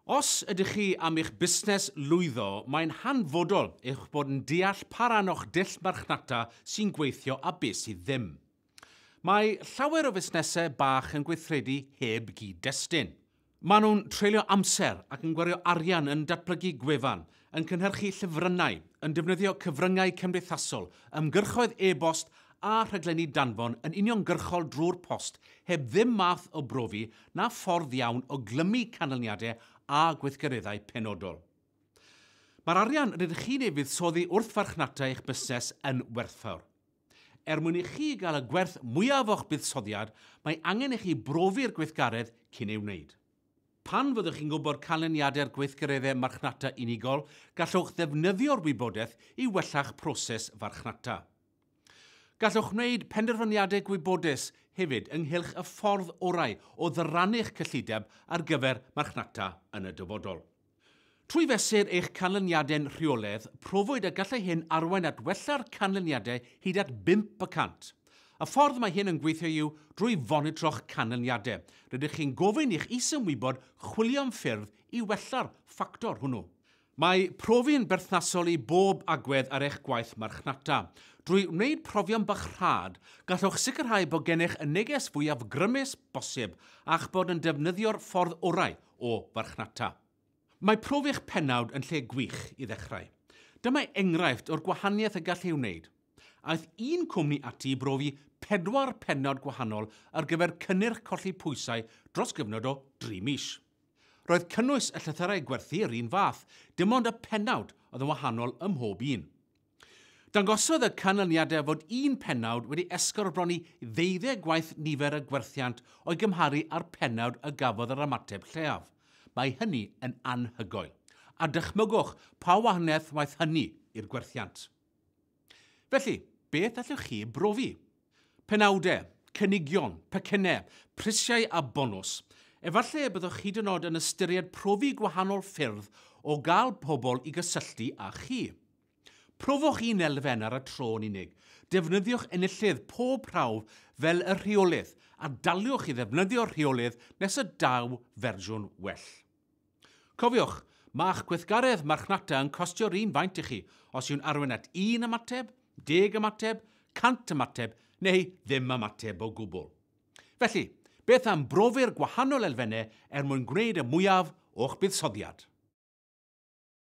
Os ydych chi am i'ch busnes lwyddo, mae'n hanfodol eich bod yn deall pa ran o'ch dull marchnata sy'n gweithio a beth sydd ddim. Mae llawer o fusnesau bach yn gweithredu heb gyd-destun. Maen nhw'n treulio amser ac yn gwario arian yn datblygu gwefan, yn cynhyrchu llyfrynnau, yn defnyddio cyfryngau cymdeithasol, ymgyrchoedd e-bost a rhaglenni danfon yn uniongyrchol drwy'r post heb ddim math o brofi na ffordd iawn o glymu canlyniadau a gweithgareddau penodol. Mae'r arian rydych chi'n ei fuddsoddi wrth farchnata eich busnes yn werthfawr. Er mwyn i chi gael y gwerth mwyaf o'ch buddsoddiad, mae angen i chi brofi'r gweithgaredd cyn ei wneud. Pan fyddwch chi'n gwybod canlyniadau'r gweithgareddau marchnata unigol, gallwch ddefnyddio'r wybodaeth i wella'ch proses farchnata. Gallwch wneud penderfyniadau gwybodus hefyd ynghylch y ffordd orau o ddyrannu'ch cyllideb ar gyfer marchnata yn y dyfodol. Trwy fesur eich canlyniadau'n rheolaidd, profwyd y gallai hyn arwain at wella'r canlyniadau hyd at bump y cant. Y ffordd mae hyn yn gweithio yw drwy fonitro'ch canlyniadau. Rydych chi'n gofyn i'ch is-ymwybod chwilio am ffyrdd i wella'r ffactor hwnnw. Mae profi'n berthnasol i bob agwedd ar eich gwaith marchnata. Drwy wneud profion bach rhad, gallwch sicrhau bod gennych y neges fwyaf grymus bosib a'ch bod yn defnyddio'r ffordd orau o farchnata. Mae profi eich pennawd yn lle gwych i ddechrau. Dyma enghraifft o'r gwahaniaeth y gall ei wneud. Aeth un cwmni ati i brofi pedwar pennawd gwahanol ar gyfer cynnyrch colli pwysau dros gyfnod o dri mis. Roedd cynnwys y llythyrau gwerthu yr un fath, dim ond y pennawd oedd yn wahanol ym mhob un. Dangosodd y canlyniadau fod un pennawd wedi esgorbromi ddeuddeg gwaith nifer y gwerthiant o'i gymharu â'r pennawd y gafodd yr ymateb lleiaf. Mae hynny yn anhygoel. A dychmygwch pa wahaniaeth waeth hynny i'r gwerthiant. Felly, beth allwch chi ei brofi? Penawdau, cynigion, pecynnau, prisiau a bonws. Efallai y byddwch hyd yn oed yn ystyried profi gwahanol ffyrdd o gael pobl i gysylltu â chi. Profwch un elfen ar y tro yn unig. Defnyddiwch enillydd pob prawf fel y rheolydd, a daliwch i ddefnyddio'r rheolydd nes y daw fersiwn well. Cofiwch, mae'ch gweithgaredd marchnata yn costio'r un faint i chi os yw'n arwain at un ymateb, deg ymateb, cant ymateb neu ddim ymateb o gwbl. Felly, beth am brofi'r gwahanol elfennau er mwyn gwneud y mwyaf o'ch buddsoddiad?